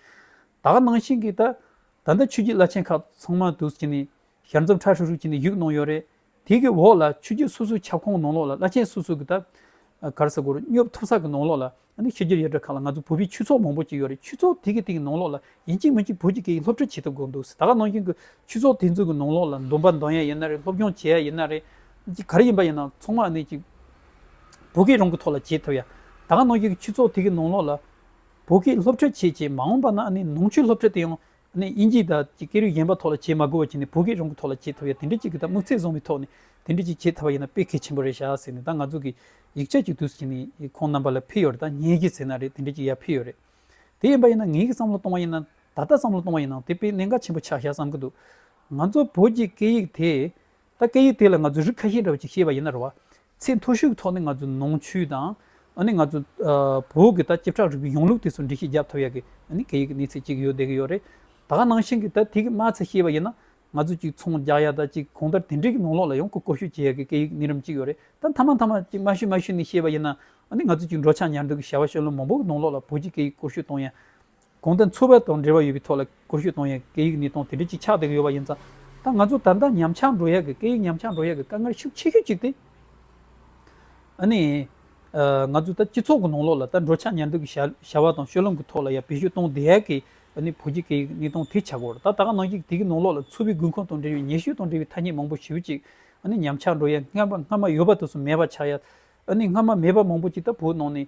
ད་ག་ནང་བཞིན་གི་ད་ད་ལྟ་ཆོས་བརྒྱུད་བླ་ཆེན་ཁག་ཚང་མ་དུ་ཅི་ནི་ཞར་འཛུམ་ཁྲ་ཧྲུག་ཧྲུག་བྱས་ནས་བཞུགས་གནང་ཡོད་རེད། དེ་གི་འོག་ལ་ཆོས་བརྒྱུད་སོ་སོའི་ཁྱབ་ཁོངས་ནང་ལོགས་ལ་བླ་ཆེན་སོ་སོ་གི་ཐབ། གར་ས་གུར་སྙོབ་ཐུབ་ས་གི་ནང་ལོགས་ལ་ཨ་ནི་ཤེས་རྒྱུད་ཡ་བྲལ་ཁག་ལ་ང་ཚོ་བོད་པའི་ཆོས་ཚོགས་མང་པོ་ཅིག་ཡོད་རེད་ཆོས་ཚོགས་དེ་གི་དེ་གི་ནང་ལོགས་ལ་ཡིན་གཅིག་མིན་གཅིག་བོད་ཀྱི་སྐད་ཡིག་སློབ་ཁྲིད་བྱེད་ཐུབ་དགོས་འདུག་ད་ག་ནང་བཞིན་གི་ཆོས་ཚོགས་དེ་ཚོ་གི་ནང་ལོགས་ལ་འདོན་པ་འདོན་ཡ་ཡིན་ན་རེད་སློབ་སྦྱོང་བྱེད་ཡ་ཡིན་ན་རེད། ཅིག་ག་རེ་ཡིན་པ་ཡིན་ན་ཚང་མ་ཨ་ནི་ཅིག་བོད་སྐད་རང་གི་ཐོག་ལ་བྱེད་ཐུབ་ཡ། ད་ག་ནང་བཞིན་གི་ཆོས་ཚོགས་དེ་གི་ནང་ལོགས་ལ་བོད་སྐད་སློབ་ཁྲིད་བྱེད་བྱེད་མ་འོངས་པ་ན་ཨ་ནི་ནང་ཆོས་སློབ་ཁྲིད་དེ་ཡང་ནས་དབྱིན་ཇིའི་དང་གི་སྐད་རིགས་གཞན་པ་ཐོག་ལ་བྱེད་མ་དགོས་པ་བྱས་ནས་བོད་སྐད་རང་གི་ཐོག་ལ་བྱེད་ཐུབ་ཡ་དེ་འདྲ་གཅིག་གི་དང་དམིགས་ཚད་བཟུང་བའི་ཐོག་ནས་དེ་འདྲ་གཅིག་བྱེད་ཐབ་པ་ཡིན་ན་དཔེ་གལ་ཆེན་པོ་རེད་ཤག་ཟེར་ནས་དང་ང་ཚོ་གི་ཡིག་ཆ་གཅིག་དུས་ཀྱི་ནི་ཁོང་རྣམ་པ་ལ་ཕིལ་ཡོད་རེད་དང་ངེད་ཀྱིས་ཟེར་ན་རེད་དེ་འདྲ་གཅིག་ཡ་ཕིལ་ཡོད་རེད་དེ་ཡིན་པ་ཡིན་ན་ངེད་ཀྱི་བསམ་བློ་གཏོང་བ་ཡིན་ན་ད་ལྟ་བསམ་བློ་གཏོང་བ་ཡིན་ནང་དེ་དཔེ་གནད་འགག་ཆེན་པོ་ཆགས་ཤག་བསམ་གི་འདུག་ང་ཚོ་བོད་ཀྱི་སྐད་ཡིག་དེ། ད་སྐད་ཡིག་དེ་ལ་ང་ཚོས་རིགས་ཁ་ཤས་འདྲ་བ་ཅིག་ཤེས་པ་ཡིན་ན་རེ་བ། ཚད་མཐོ་ཤོས་ཀྱི་ཐོག་ནས་ང་ཚོས་ནང་ཆོས་དང། ཨ་ནི་ང་ཚོ། བོད་ཀྱི་ད་སྐྱིབས་ཁྲག་རིག་པའི་གཞུང་ལུགས་དེ་ཚོར་འགྲེལ་བཤད་བརྒྱབ་ཐུབ་ཡག་གི། ཨ་ནི་སྐད་ཡིག་གི་གནས་ཚད་ཅིག་ཡོད་བསྡད་ཀྱི་ཡོད་རེད། ད་ག་ནང་བཞིན་གྱི་ད་དེ་གི་མ་ཚད་ཤེས་པ་ཡིན་ན། ང་ཚོས་ཅིག་ཚོང་རྒྱག་ཡག་ད་ཅིག་གོང་ལྟར་དེ་འདྲའི་གི་ནང་ལོགས་ལ་ཡང་ཁུ་བསྐོ་ཤོས་བྱེད་ཡག་གི་སྐད་ཡིག་གི་གནས་རིམ་ཅིག་ཡོད་རེད་ད་མཐའ་མ་མཐའ་མ་ཅིག་མ་ཤོད་མ་ཤོད་ནས་ཤེས་པ་ཡིན་ན། ཨ་ནི་ང་ཚོས་ཅིག་འགྲོ་འཆག་ཉར་འདུག་གི་བྱ་བ་ཤོད་ལོ་མང་པོ་གི་ནང་ལོགས་ལ་བོད་ཀྱི་སྐད་ཡིག་བསྐོ་ཤོས་གཏོང་ཡག། གོང་དུ་འཚོ་བ་དང་འབྲེལ་བ་ཡོད་པའི་ཐོག་ལ་གོ་ཤོད་གཏོང་ཡག་གི་སྐད་ཡིག་ནི་སྟོང་དེ་འབྲེལ་གྱི་ཆགས་བསྡད་ཀྱི་ཡོད་པ་ཡིན་ཙང། ད་ང་ཚོ་ད་ལྟ་ཉམས་ཆགས་འགྲོ་ཡག་གི་སྐད་ཡིག་ཉམས་ཆགས་འགྲོ་ཡག་གི་དཀའ་ངལ་ཤུགས་ཆེ་ཤོས་གཅིག་སྟེ། ཨ་ནི། ང་ཚོ་ད་སྤྱི་ཚོགས་ཀྱི་ནང་ལོགས་ལ་ད་འགྲོ་འཆག་ཉལ་འདུག་གི་བྱ་བ་དང་ཤོད་ལོང་གི་ཐོག་ལ་ཡང་བེད་སྤྱོད་གཏོང་བསྡད་ཡག་གི་ཨ་ནི་བོད་ཀྱི་སྐད་ཡིག་ནི་སྟོང་དེ་ཆགས་སྐོར་ད་ད་ག་ནང་གི་དེ་གི་ནང་ལོགས་ལ་འཚོ་བའི་དགོས་མཁོ་དང་འབྲེལ་བའི་ཉེ་ཤོས་དང་འབྲེལ་བའི་ཐ་སྙད་མང་པོ་ཞིབ་ཅིག་ཨ་ནི་ཉམས་ཆགས་འགྲོ་ཡག་སྔ་མ་ཡོད་པ་དུ་སུ་མེད་པ་ཆགས་ཡག་ཨ་ནི་སྔ་མ་མེད་པ་མང་པོ་ཅིག་ད་བོད་ནང་ནས་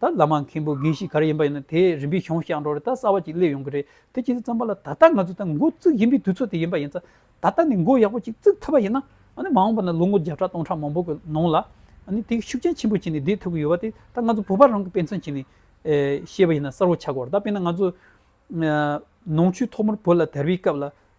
ད་བླ་མ་མཁན་པོ་རྒན་ཞིག་ག་རེ་ཡིན་པ་ཡིན་ན་དེས་རིམ་པས་གཞུང་བཤགས་འགྲོ་རེད་ད་གསར་བ་ཅིག་སླེབས་ཡོང་གི་རེད་དེ་སྤྱི་འཐུས་ཚང་པ་ལ་ད་ལྟ་ང་ཚོ་ད་མགོ་བཙུགས་བཞིན་པའི་དུས་ཚོད་དེ་ཡིན་པ་ཡིན་ཙང་ད་ལྟ་ནས་མགོ་ཡག་པོ་ཅིག་བཙུགས་ཐུབ་པ་ཡིན་ན་ཨ་ནི་མ་འོངས་པ་ན་ལོ་ངོ་བརྒྱ་ཕྲག་སྟོང་ཕྲག་མང་པོ་གི་ནང་ལ་ཨ་ནི་དེ་གི་ཤུགས་རྐྱེན་ཆེན་པོ་བྱས་ནས་བསྡད་ཐུབ་ཀྱི་ཡོད་པ་དེ་ད་ང་ཚོ་བོད་པ་རང་གི་དཔེ་མཚོན་བྱས་ནས་བཤད་པ་ཡིན་ན་གསར་བོ་ཆགས་དགོས་རེད་ད་དཔེར་ན་ང་ཚོ་ནང་ཆོས་ཐོག་མར་བོད་ལ་དར་བའི་སྐབས་ལ་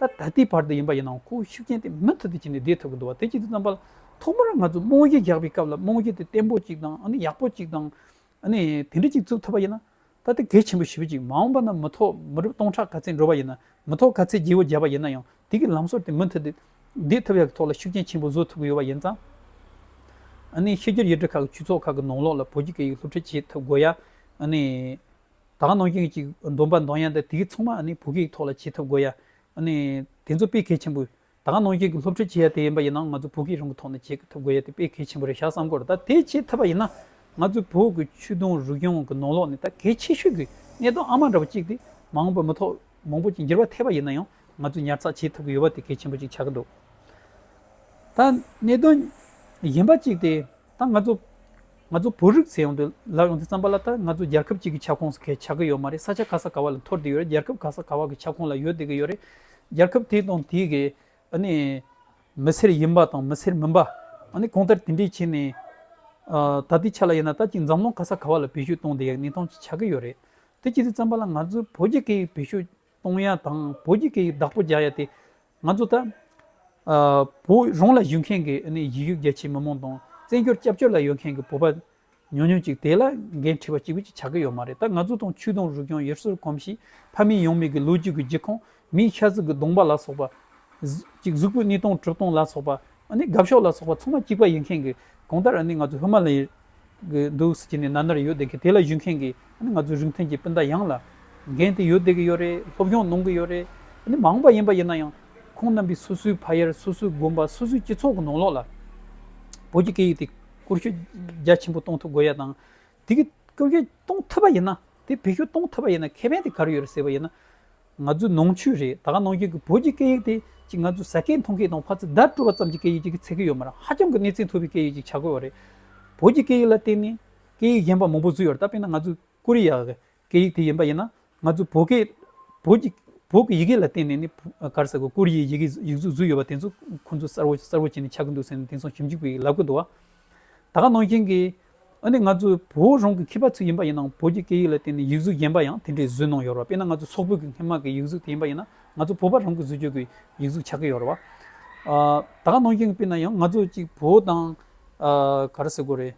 ད་ལྟ་དེའི་བར་དུ་ཡིན་པ་ཡིན་ནའང་ཁོ་བོའི་ཤུགས་རྐྱེན་དེ་མུ་མཐུད་དུ་བྱས་ནས་བསྡད་ཐུབ་ཀྱི་འདུག་བ་དེ་ཅི་ལྟར་བསམ་པ། ཐོག་མར་ང་ཚོས་རྨོངས་གཞི་རྒྱག་པའི་སྐབས་ལ་རྨོངས་གཞི་དེ་བརྟན་པོ་ཅིག་དང་ཨ་ནི་ཡག་པོ་ཅིག་དང། ཨ་ནི་དེ་འདྲ་ཅིག་འཛུགས་ཐུབ་པ་ཡིན་ན། ད་ལྟ་གལ་ཆེན་པོ་ཞི་བ་ཅིག་མ་འོངས་པ་ན་མི་ཐོག་མི་རབས་སྟོང་ཕྲག་ག་ཚད་འགྲོ་བ་ཡིན་ན་མི་ཐོག་ག་ཚད་རྗེས་བོ་རྒྱབ་པ་ཡིན་ན་ཡང་དེ་གི་ལམ་སྲོལ་དེ་མུ་མཐུད་དེ་བསྡད་ཐུབ་ཡག་གི་ཐོག་ལ་ཤུགས་རྐྱེན་ཆེན་པོ་བཟོ་ཐུབ་ཀྱི་ཡོད་པ་ཡིན་ཙང། ཨ་ནི་ཕྱི་རྒྱལ་ཡུལ་གྲུ་ཁག་གི་ཆོས་ཚོགས་ཁག་གི་ནང་ལོགས་ལ་བོད་ཀྱི་སྐད་ཡིག་སློབ་ཁྲིད་བྱེད་ཐུབ་དགོས་ཡ། ཨ་ནི། དག་གནང་རྒྱུ་གཅིག་བསྡོམས་པ་འདང་ཡ་འདི་དེའི་ཚང་མ་ནི་བོད་སྐད་ཐོག་ལ་བྱེད་ཐུབ་དགོས་ཡ། དེ་ཚོ་དཔེ་གལ་ཆེན་པོ། དག་གནང་རྒྱུ་གི་སློབ་ཁྲིད་བྱེད་ཡ་དེ་ཡིན་པ་ཡིན་ན་ང་ཚོ་བོད་སྐད་རང་གི་ཐོག་ནས་བྱེད་ཐུབ་དགོས་ཡ་དེ་དཔེ་གལ་ཆེན་པོ་རེད་ཤག་བསམ་གོ་རེ་ད་དེ་བྱེད་ཐུབ་པ་ཡིན་ན་ང་ཚོའི་བོད་ཀྱི་ཆོས་དུང་རུས་རྒྱང་གི་ནང་ལོག་ནས་ད་གལ་ཆེ་ཤོས་ཀྱི་གནད་དོན་ཨ་མ་འདྲ་བོ་གཅིག་དེ་མང་པོ་མི་ཐོག་མང་པོ་གཅིག་འགྱུར་བ་ཐེབས་པ་ཡིན་ན་ཡང་ང་ཚོས་ཉར་ཚགས་བྱེད་ཐུབ་ཀྱི་ཡོད་པ་དེ་གལ་ཆེན་པོ་གཅིག་ཆགས་ཀྱི་འདུག་ད་གནད་དོན་གཞན་པ་གཅིག་དེ། ད་ང་ཚོ། ང་ཚོ་བོད་རིགས་ཚེ་ཡོང་དུ་ལབ་ཡོང་དུས་བརྩམས་པ་ལ་ད་ང་ཚོ་རྒྱལ་ཁབ་ཅིག་གི་ཁྱབ་ཁོངས་སུ་གས་ཆགས་ཀྱི་ཡོད་མ་རེད་ས་ཆ་ག་ས་ག་བ་ལ་འཐོར་དུ་ཡོད་རེད་རྒྱལ་ཁབ་ག་ས་ག་བ་གི་ཁྱབ་ཁོངས་ལ་ཡོད་བསྡད་ཀྱི་ཡོད་རེད། རྒྱལ་ཁབ་དེ་དང་དེ་གི་ཨ་ནི། མི་སེར་ཡིན་པ་དང་མི་སེར་མིན་པ། ཨ་ནི་གང་ལྟར་དེ་འདྲའི་ཆེད་ནས། ད་ལྟའི་ཆ་ལ་ཡིན་ན་ད་ཅིག་འཛམ་གླིང་ག་ས་ག་བ་ལ་བེད་སྤྱོད་གཏོང་དེ་ཡག་ནི་ཐང་ཅིག་ཆགས་ཀྱི་ཡོད་རེད། དེ་ཅི་ཟེར་བརྩམས་པ་ལ་ང་ཚོའི་བོད་རྒྱལ་ཁའི་བེད་སྤྱོད། གཏོང་ཡ་དང་བོད་ཀྱི་སྐད་ཡིག་བདག་པོ་རྒྱག་ཡ་དེ་ང་ཚོ་ད་བོད་རང་ལ་བཞུགས་མཁན་གྱི་ཡིག་ཡུལ་རྒྱ་ཆེའི་མི་མང་དང་བཙན་བྱོལ་སྐྱབས་བཅོལ་ལ་ཡོད་མཁན་གྱི་བོད་པ་ཉུང་ཉུང་ཅིག་དེ་ལ་འགན་འཁྲི་བ་གཅིག་པུ་ཅིག་ཆགས་ཀྱི་ཡོད་མ་རེད་ད་ང་ཚོ་དང་ཆོས་དང་རིག་གཞུང་ཡེར་སོར་གོམས་ཤིག་ཕ་མེས་ཡང་མེས་ཀྱི་ལོ་རྒྱུས་ཀྱི་རྒྱུད་ཁོངས་མིའི་ཤ་གཟུགས་ཀྱི་གདོང་པ་ལ་སོགས་པ། ཅིག་གཟུགས་པོའི་གནས་སྟངས་གྲུབ་སྟངས་ལ་སོགས་པ། དགའ་ཕྱོགས་ལ་སོགས་པ་ཚང་མ་གཅིག་པ་ཡིན་མཁན་གྱི་གང་ལྟར་ང་ཚོ་ཧི་མ་ལ་ཡའི་གི་འདུག་ཟེར་གྱི་ནས་ན་ནར་ཡོད་བསྡད་གི་དེ་ལ་ཞུགས་མཁན་གི་ང་ཚོའི་རིང་ཐུང་གི་སྤུན་ཟླ་ཡང་ལ་རྒན་དེ་ཡོད་བསྡད་གི་ཡོད་རེད་སློབ་སྦྱོང་གནང་གི་ཡོད་རེད་མ་འོངས་པ་ཡིན་པ་ཡིན་ན་ཡང་ཁོང་རྣམ་པའི་སོ་སོའི་ཕ་ཡར་སོ་སོའི་དགོན་པ་སོ་སོའི་སྤྱི་ཚོགས་གི་ནང་ལོགས་ལ་བོད་ཀྱི་སྐད་ཡིག་དེ་བཀོལ་སྤྱོད་རྒྱ་ཆེན་པོ་གཏོང་ཐུབ་དགོས་ཡ་དང་དེ་གི་བཀོལ་སྤྱོད་གཏོང་ཐུབ་པ་ཡིན་ན་དེ་བེད་སྤྱོད་གཏོང་ཐུབ་པ་ཡིན་ན་ཁེ་ཕན་དེ་ག་རེ་ཡོད་རེད་ཟེར་བ་ཡིན་ན་ང་ཚོའི་ནང་ཆོས་རེད་ད་ག་ནང་ཆོས་ཀྱི་བོད་ཀྱི་སྐད་ཡིག་དེ་ཅིག་ང་ཚོའི་ཟ་སྐད་མཐོང་སྐད་དང་བྷ་ཚི་བརྡ་སྤྲོད་པ་ཙམ་གྱི་སྐད་ཡིག་ཅིག་གི་ཚད་ཀྱི་ཡོད་མ་རེད་ཧ་ཅང་གི་གནས་ཚད་མཐོ་བའི་སྐད་ཡིག་ཅིག་བྱ་དགོས་བ་རེད་བོད་ཀྱི་སྐད་ཡིག་ལ་བརྟེན་ནས་སྐད་ཡིག་གཞན་པ་མང་པོ་བཟོས་ཡོད་ད་དཔེར་ན་ང་ཚོའི་ཀོ་རི་ཡའི་སྐད་ཡིག་དེ་ཡིན་པ་ཡིན་ན་ང་ཚོའི་བོད་སྐད་བོད་ཀྱི་བོད་ཀྱི་ཡི་གེ་ལ་བརྟེན་ནས་ནི་གར་ཟེར་གོ་ཀོ་རི་ཡའི་ཡི་གེ་ཡིག་གཟུགས་བཟོས་ཡོད་བ་དེ་ཚོ་ཁོ་ཚོ་གསར་བོ་གསར་བོ་བྱས་ནས་ཆགས་ཀྱི་འདུག་ཟེར་ནས་དེང་སང་ཞིབ་འཇུག་པས་ལབ་ཀྱི་འདུག་བ་ད་ག་ནང་བཞིན་གྱི། ཨ་ནི་ང་ཚོའི་བོད་རང་གི་ཁྱི་པ་ཚིག་ཡིན་པ་ཡིན་ནའང་བོད་ཀྱི་སྐད་ཡིག་ལ་བརྟེན་ནས་ཡིག་གཟུགས་རྒྱན་པ་ཡང་དེ་འདྲའི་བཟོས་གནང་ཡོད་རེད་བ་དཔེར་ན་ང་ཚོའི་སོག་བོད་ཀྱི་སྔན་མ་གི་ཡིག་གཟུགས་དེ་ཡིན་པ་ཡིན་ན་ང་ཚོ་བོད་པ་རང་གི་བཟོས་བཅོས་ཀྱི་ཡིག་གཟུགས་ཆགས་ཀྱི་ཡོད་རེད་བ། ད་ག་ནང་བཞིན་དཔེར་ན་ཡང་ང་ཚོ་ཅིག་བོད་དང། ག་རེ་ཟེར་དགོས་རེད།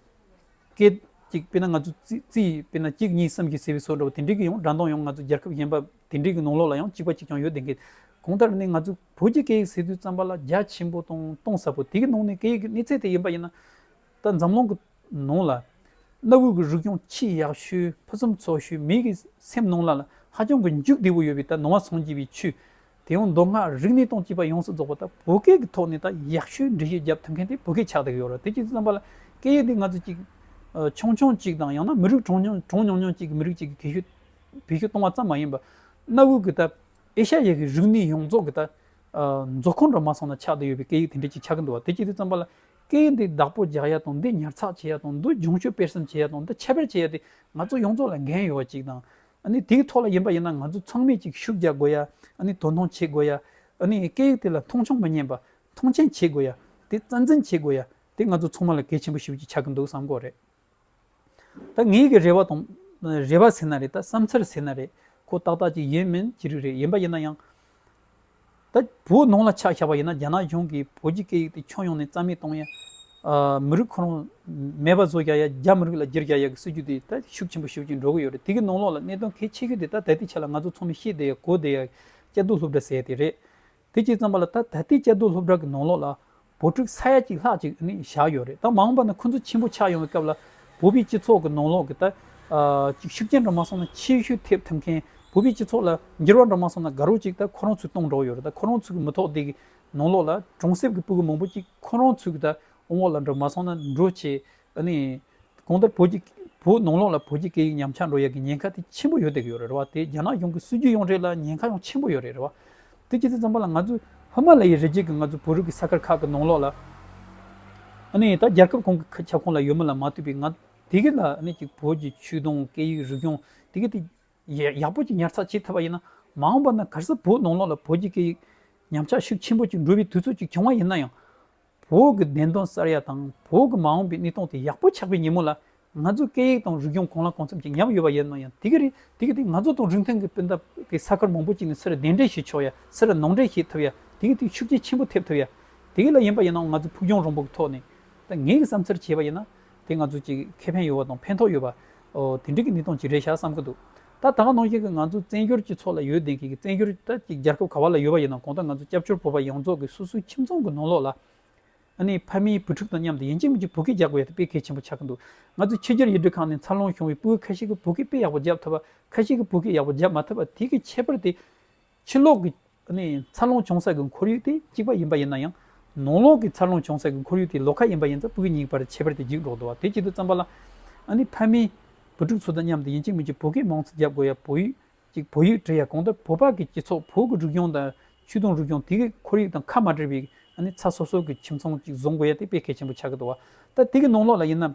སྐད་ཅིག་དཔེར་ན་ང་ཚོ་རྩིས་དཔེར་ན་གཅིག་གཉིས་གསུམ་གྱི་ཟེར་བའི་སོགས་འདྲ་བ་དེ་འདྲའི་གི་ཡང་སྒྲ་མདོངས་ཡང་ང་ཚོ་རྒྱལ་ཁབ་གཞན་པ་དེ་འདྲའི་གི་ནང་ལོགས་ལ་ཡང་གཅིག་པ་གཅིག་ཀྱང་ཡོད་བདེན་གི། གང་ལྟར་ནི་ང་ཚོའི་བོད་ཀྱི་སྐད་ཡིག་ཟེར་དུས་བརྩམས་པ་ལ་རྒྱ་ཆེན་པོ་དང་གཏོང་ཟབ་པོ་དེ་གི་ནང་ནས་སྐད་ཡིག་གི་གནས་ཚད་དེ་ཡིན་པ་ཡིན་ན། ད་འཛམ་གླིང་གི་ནང་ལ་གནའ་བོའི་གི་རིག་གཞུང་ཆེས་ཡག་ཤོས་ཕུན་སུམ་ཚོགས་ཤོས་མིའི་གི་སེམས་ནང་ལ་ལ་ཧ་ཅང་གི་མཇུག་བདེ་བོ་ཡོད་པའི་ད་ནོར་བ་སངས་རྒྱས་པའི་ཆོས་དེ་ཡང་མདོ་སྔགས་རིག་གནས་སྟངས་སྤྱི་པ་ཡོངས་སུ་རྫོགས་པ་ད་བོད་སྐད་གི་ཐོག་ནས་ད་ཡག་ཤོས་འགྲེལ་བཤད་རྒྱབ་ཐུབ་མཁན་དེ་བོད་སྐད་ཆགས་བསྡད་གི་ཡོད་རེད་དེ་ཅིག་རྩམ་པ་ལ་སྐད་ཡིག་དེ་ང་ཚོ་ཅིག་ཆུང་ཆུང་ཅིག་དང་ཡང་ན་མི་རིགས་གྲངས་ཉུང་ཉུང་ཅིག་གི་མི་རིགས་ཅིག་གི་གེ་ཤུ་བེད་ཤུ་གཏོང་བ་ཙམ་མ་ཡིན་པར་གནའ་བོའི་གི་ད་ཨེ་ཤ་ཡའི་གི་རིག་གནས་ཡོངས་རྫོགས་གི་ད་མཛོ་ཁང་འདྲ་མ་སོང་ན་ཆགས་བསྡད་ཡོད་པའི་སྐད་ཡིག་དེ་འདྲ་ཅིག་ཆགས་གི་འདུག་བ་དེ་ཅིག་རྩམ་པ་ལ་སྐད་ཡིག་འདི་བདག་པོ་རྒྱག་ཡ་དང་འདི་ཉར་ཚགས་བྱེད་ཡ་དང་འདི་སྦྱོང་སྤྱོད་སྤེལ་གསུམ་བྱེད་ཡ་དང་འདི་ཁྱད་པར་བྱེད་ཡ་དེ་ང་ཚོ་ཡོངས་རྫོགས་ལ་འགན་ཡོད་པ་ཅིག་དང། ཨཱ་ནི་དེའི་ཐོག་ལ་ཡིན་པ་ཡིན་ན་ང་ཚོ་ཚང་མས་ཅིག་ཤུགས་རྒྱག་དགོས་ཡ། ཨཱ་ནི་དོ་སྣང་བྱེད་དགོས་ཡ། ཨཱ་ནི་སྐད་ཡིག་དེ་ལ་མཐོང་ཆུང་མི་ཉན་པ། མཐོང་ཆེན་བྱེད་དགོས་ཡ། དེ་རྩ་འཛིན་བྱེད་དགོས་ཡ། དེ་ང་ཚོ་ཚང་མ་ལ་གལ་ཆེན་པོ་ཞིག་ཅིག་ཆགས་ཀྱི་འདུག་བསམ་དགོས་རེད། ད་ངེད་ཀྱི་རེ་བ་དང། རེ་བ་ཟེར་ན་རེད་ད་བསམ་འཚར་ཟེར་ན་རེད་ཁོ་ཏག་ཏག་ཅིག་ཡིན་མིན་ཅི་རིགས་རེད་ཡིན་པ་ཡིན་ན་ཡང། ད་བོད་ནང་ལ་ཆགས་ཞགས་པ་ཡིན་ན་རྒྱ་ནག་གཞུང་གིས་བོད་ཀྱི་སྐད་ཡིག་དེ་ཕྱོགས་ཡོངས་ནས་རྩ་མེད་གཏོང་ཡ། མི་རིགས་ཁོ་རང་མེད་པ་བཟོ་རྒྱག་ཡ་རྒྱ་མི་རིགས་ལ་སྒྱིར་རྒྱག་ཡ་གི་སྲིད་ཇུས་དེ་ད་ཤུགས་ཆེན་པོ་ཞུགས་ཀྱིན་འགྲོ་གི་ཡོད་རེད་དེ་གི་ནང་ལོགས་ལ་གནད་དོན་གལ་ཆེ་ཤོས་དེ་ད་ད་ལྟའི་ཆ་ལ་ང་ཚོ་ཚང་མས་ཤེས་བསྡད་ཡ་གོ་བསྡད་ཡ་སྐྱ་རྡུལ་ལྷུབ་འདྲ་ཟེར་ཡ་དེ་རེད། དེ་གཅིག་ཙམ་པ་ལ་ད་ད་ལྟའི་དཔྱད་བསྡུར་སློབ་གྲྭ་གི་ནང་ལོགས་ལ་བུ་ཕྲུག་ས་ཡ་གཅིག་ལྷག་ཅིག་ནི་བཞག་ཡོད་རེད་ད་མ་འོངས་པ་ན་ཁོ་ཚོ་ཆེན་པོ་ཆགས་ཡོང་བའི་སྐབས་ལ་བོད་པའི་སྤྱི་ཚོགས་ཀྱི་ནང་ལོགས་ཀྱི་ད་ཅིག་ཤུགས་རྐྱེན་འདྲ་མ་སོང་ན་ཆེས་ཤོས་ཐེབས་ཐུབ་མཁན་བོད་པའི་སྤྱི་ཚོགས་ལ་འགྱུར་བ་འདྲ་མ་སོང་ན་དགའ་རོགས་ཅིག་ད་ཁོ་རང་ཚོས་གཏོང་གྲོགས་ཡོད་རེད་ད་ཁོ་རང་ཚོ་གི་མི་ཐོག་འདི་གི་ནང་ལོགས་ལ་གྲོང་གསེབ་ཀྱི་སྤུ་གུ་མང་པོ་ཅིག་ཁོ་རང་ཚོས་ཀྱི་ད་འོང་བ་ལ་འགྲོ་མ་སོང་ན་འགྲོ་བྱེད་ད་ནི་གང་ལྟར་བོད་ཀྱི་བོད་ནང་ལོགས་ལ་བོད་ཀྱི་སྐད་ཡིག་ཉམས་ཆག་འགྲོ་ཡག་གི་ཉེན་ཁ་དེ་ཆེན་པོ་ཡོད་བསྡད་ཀྱི་ཡོད་རེད་རེད་བ་དེ་རྒྱ་ནག་གཞུང་གི་སྲིད་ཇུས་ཡོངས་གྲས་ལ་ཉེན་ཁ་ཡང་ཆེན་པོ་ཡོད་རེད་རེད་བ། དེ་ཇི་སྲིད་ཙམ་པ་ལ་ང་ཚོས་ཧི་མ་ལ་ཡའི་རི་རྒྱལ་གྱི་ང་ཚོའི་བོད་རིགས་ཀྱི་ས་ཁར་ཁག་གི་ནང་ལོགས་ལ་ཨ་ནི་ད་རྒྱལ་ཁབ་གང་གི་ཁྱབ་ཁོངས་ལ་ཡོད་མི་ལ་མ་ལྟོས་པའི་ང་དེ་གའི་ལ་ཨ་ནི་ཅིག་བོད་ཀྱི་ཆོས་དང་སྐད་ཡིག་རིག་གཞུང་དེ་གའི་དེ་ཡག་པོ་ཅིག་ཉར་ཚགས་བྱེད་ཐུབ་པ་ཡིན་ན་མ་འོངས་པ་ན་ག་སྲིད་བོད་ནང་ལོགས་ལ་བོད་ཀྱི་སྐད་ཡིག་ཉམས་ཆག་ཤུགས་ཆེན་པོ་ཅིག་འགྲོ་བའི་དུས་ཚོད་ཅིག་བྱུང་བ་ཡིན་ན་ཡང། བོད་ཀྱི་བདེན་དོན་གསར་ཡ་དང་བོད་ཀྱི་མ་འོངས་པའི་གནས་སྟངས་དེ་ཡག་པོ་ཆགས་པའི་ཉིན་མོ་ལ། ང་ཚོའི་སྐད་ཡིག་དང་རིག་གཞུང་གང་ལ་གང་འཚམ་ཅིག་ཉམས་ཡོད་པ་ཡིན་ནོ་ཡང་དེ་ག་རེད་དེ་ག་དེ་ང་ཚོ་དང་རིན་ཐང་གི་སྤུན་ཟླ་གི་ས་ཁར་མང་པོ་ཅིག་ནས་སེ་ར་གདན་འདྲེན་བྱེད་ཆོག་ཡ་སེ་ར་ནང་འདྲེན་བྱེད་ཐུབ་ཡ་དེ་ག་དེ་ཤུགས་རྐྱེན་ཆེན་པོ་ཐེབས་ཐུབ་ཡ་དེ་ག་ལ་ཡིན་པ་ཡིན་ནའང་ང་ཚོས་ཕུགས་རྒྱང་རིང་པོ་གི་ཐོག་ནས་ད་ངས་ཀྱི་བསམ་ཚུལ་བྱས་པ་ཡིན་ན་དེ་ང་ཚོ་ཅིག་ཁེ་ཕན་ཡོད་པ་དང་ཕན་ཐོག་ཡོད་པ་འོ་དེ་འདྲའི་གི་གནས་སྟངས་ཅིག་རེད་ཤག་བསམ་གྱི་འདུག་ད་ཐང་ནང་བཞིན་གྱི་ང་ཚོ་བཙན་བྱོལ་སྤྱི་ཚོགས་ལ་ཡོད་བདེན་གྱི་བཙན་བྱོལ་གྱི་རྒྱལ་ཁབ་ག་བ་ལ་ཡོད་པ་ཡིན་ནམ་གང་ལྟར་ང་ཚོ་སྐྱབས་བཅོལ་བོད་པ་ཡོངས་རྫོགས་ཀྱི་སོ་སོའི་ཁྱིམ་ཚང་གི་ནང་ལོགས་ལ་ནི་ཕ་མའི་བུ་ཕྲུག་དང་མཉམ་དུ་ཡིན་གཅིག་མིན་གཅིག་བོད་སྐད་རྒྱག་པའི་ཐད་དཔེ་གལ་ཆེན་པོ་ཆགས་ཀྱི་འདུག་ང་ཚོའི་ཕྱི་རྒྱལ་ཡུལ་གྲུ་ཁག་ནས་འཚར་ལོངས་བྱུང་བའི་སྤུས་ཁ་ཤས་ཀྱིས་བོད་སྐད་དཔེ་ཡག་པོ་རྒྱབ་ཐུབ་པ་ཁ་ཤས་ཀྱིས་བོད་སྐད་ཡག་པོ་རྒྱབ་མ་ཐུབ་པ་དེ་གའི་ཁྱད་པར་དེ། ཕྱི་ལོགས་ཀྱི་འཚར་ལོངས་བྱུང་ས་ཀྱི་ཁོར་ཡུག་དེ་གཅིག་པ་ཡིན་པ་ཡིན་ན་ཡང། ནང་ལོགས་ཀྱི་འཚར་ལོངས་བྱུང་ས་ཀྱི་ཁོར་ཡུག་དེ་ལོགས་ཁ་ཡིན་པ་ཡིན་ཙང་སྤུས་ཉིག་པར་ཁྱད་པར་དེ་འགྱིག་འགྲོག་འདུག་བ་དེ་གཅིག་ཏུ་བརྩམས་པ་ལ། ཕ་མའི་བུ་ཕྲུག་ཚོ་དང་མཉམ་དུ་ཡིན་གཅིག་མིན་གཅིག་བོད་སྐད་མང་ཙམ་རྒྱབ་དགོས་ཡ་བོད་ཡིག་གཅིག་བོད་ཡིག་བྲི་ཡ་གང་ལྟར་བོད་པ་གི་སྤྱི་ཚོགས་བོད་ཀྱི་རིག་གཞུང་དང་ཆོས་དུང་རིག་གཞུང་དེ་གི་ཁོར་ཡུག་དང་ཁ་མ་བྲལ་བའི་ཚ་སོབ་སོབ་ཀྱི་ཁྱིམ་ཚང་གཅིག་བཟོ་དགོས་ཡ་དེ་དཔེ་གལ་ཆེན་པོ་ཆགས་ཀྱི་འདུག་བ། ད་དེ་གི་ནང་ལོགས་ལ་ཡིན་ན།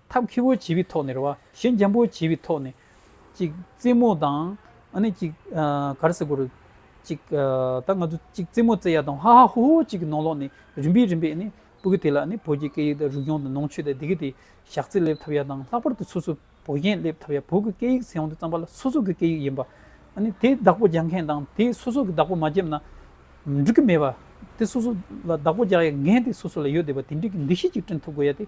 ཐབས་མཁས་པོ་བྱས་པའི་ཐོག་ནས་རེད་བ། གཞན་འཇམ་པོ་བྱས་པའི་ཐོག་ནས། ཅིག་རྩེད་མོ་དང། ཨ་ནི་ཅིག་གར་སེ་གོ་རུ། ཅིག་ད་ང་ཚོ་ཅིག་རྩེད་མོ་རྩེ་ཡ་དང་ཧ་ཧ་ཧོ་ཧོ་ཅིག་གི་ནང་ལོགས་ནས་རིམ་པས་རིམ་པས་ཨ་ནི་སྤུ་གི་དེ་ལ་ཨ་ནི་བོད་ཀྱི་སྐད་ཡིག་དང་རིག་གཞུང་དང་ནང་ཆོས་དང་དེ་གི་དེ་ཞག་རྩི་སླེབས་ཐབས་ཡ་དང་ལྷག་པར་དུ་སོ་སོ་བོད་གཞན་སླེབས་ཐབས་ཡ་བོད་ཀྱི་སྐད་ཡིག་ཟེར་ཡོང་དུ་བརྩམས་པ་ལ་སོ་སོ་གི་སྐད་ཡིག་ཡིན་པ་ཨ་ནི་དེ་བདག་པོ་རྒྱག་མཁན་དང་དེ་སོ་སོ་གི་བདག་པོ་མ་བརྒྱབ་ན་འགྲིག་གི་མེད་པ། དེ་སོ་སོ་ལ་བདག་པོ་རྒྱག་ཡ་ངན་དེ་སོ་སོ་ལ་ཡོད་བསྡད་པ་དེ་འགྲིག་གི་འདུ་ཤེས་ཅིག་བསྐྲུན་ཐུབ་དགོས་ཡ་དེ